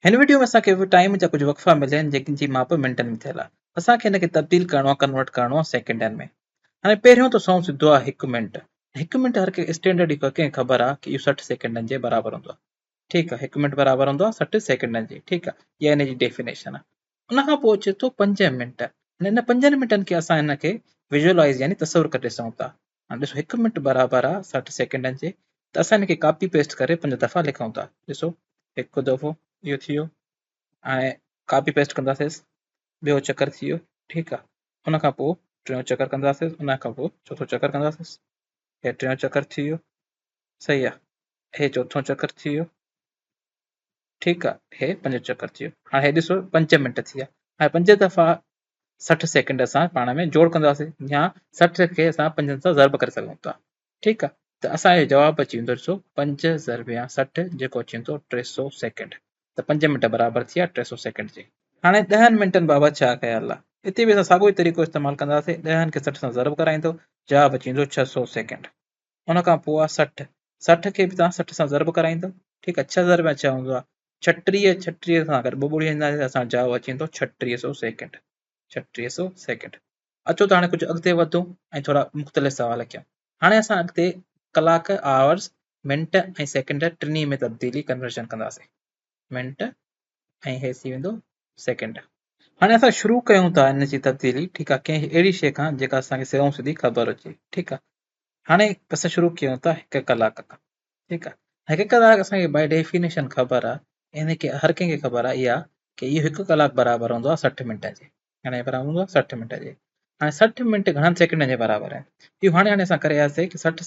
هن وڊيو ۾ اسان کي ٽائيم جا ڪجهه وقفا مليا آهن جن جي ماپ منٽن ۾ ٿيل آهي اسان کي هن کي تبديل ڪرڻو آهي ڪنورٽ ڪرڻو آهي سيڪنڊن ۾ هاڻي پهريون ته سون سڌو آهي هڪ منٽ ۽ هڪ منٽ هر ڪنهن اسٽينڊرڊ هڪ ڪنهن خبر آهي ڪي اهو سٺ سيڪنڊن جي برابر هوندو آهي ٺيڪ آهي هڪ منٽ برابر هوندو آهي سٺ سيڪنڊن جي ٺيڪ آهي اها هن جي ڊيفينيشن آهي ان کان پوء اچي ٿو پنج منٽ هاڻي ان پنجن منٽن کي اسان هن کي ويجولايز يعني تصور ڪري ڏسون ٿا هاڻي ڏسو هڪ منٽ برابر آ سٺ سيڪنڊن جي ته اسان ان کي ڪاپي پيسٽ ڪري پنج دفعا لکون ٿا ڏسو هڪ دفعو اهو ٿي ويو هاڻي ڪاپي پيسٽ ڪنداسيس ٻيو چڪر ٿي ويو ٺيڪ آ ان کان پوء ٽيون چڪر ڪنداسيس ان کان پوء چوٿون چڪر ڪنداسيس هي ٽيون چڪر ٿي ويو صحيح آ هي چوٿون چڪر ٿي ويو ٺيڪ آ هي پنج چڪر ٿي ويو هاڻي هي ڏسو پنج منٽ ٿي ويا هاڻي پنج دفعا سٺ سيڪنڊ اسان پاڻ ۾ جوڙ ڪنداسين يا سٺ کي اسان پنجن سان ضرب ڪري سگهون ٿا ٺيڪ آ ته اسان جو جواب اچي ويندو ڏسو پنج ضرب يا سٺ جيڪو اچي ويندو ٽي سو سيڪنڊ ته پنج منٽ برابر ٿي ويا ٽي سو سيڪنڊ جي. هاڻي ڏهن منٽن بابت ڇا خيال آ اتي به اسان ساڳيو ئي طريقو استعمال ڪنداسين ڏهن کي سٺ سان ضرب ڪرائيندو جواب اچي ويندو ڇهه سو سيڪنڊ. ان کان پوء آ سٺ، سٺ کي به توهان سٺ سان ضرب ڪرائيندو ٺيڪ آ ڇهه ضرب ڇهه هوندو آ ڇٽيهه، ڇٽيهه سان اگر ٻه ٻوڙيون هلندا ته اسان جو جواب اچي ويندو ڇٽيهه سئو سيڪنڊ، ڇٽيهه سئو سيڪنڊ. اچو ته هاڻي ڪجهه اڳتي وڌون ۽ ٿورا مختلف سوال ڪيون. هاڻي اسان اڳتي ڪلاڪ، Hours، منٽ ۽ سيڪنڊ ٽنهي ۾ تبديلي، Conversion، ڪنداسين. منٽ ۽ هي ٿي ويندو سيڪنڊ هاڻي اسان شروع ڪيون ٿا ان جي تبديلي ٺيڪ آهي ڪنهن اهڙي شيء کان جيڪا اسان کي سڌو سڌي خبر هجي ٺيڪ آهي هاڻي اسان شروع ڪيون ٿا هڪ ڪلاڪ کان ٺيڪ آهي هڪ ڪلاڪ اسان کي باء ڊيفينيشن خبر آهي ان کي هر ڪنهن کي خبر آهي اها ڪي اهو هڪ ڪلاڪ برابر هوندو آهي سٺ منٽ جي هاڻي برابر هوندو آهي سٺ منٽ جي هاڻي سٺ منٽ گهڻن سيڪنڊن جي برابر آهن اهو هاڻي هاڻي اسان ڪري آياسي ته سٺ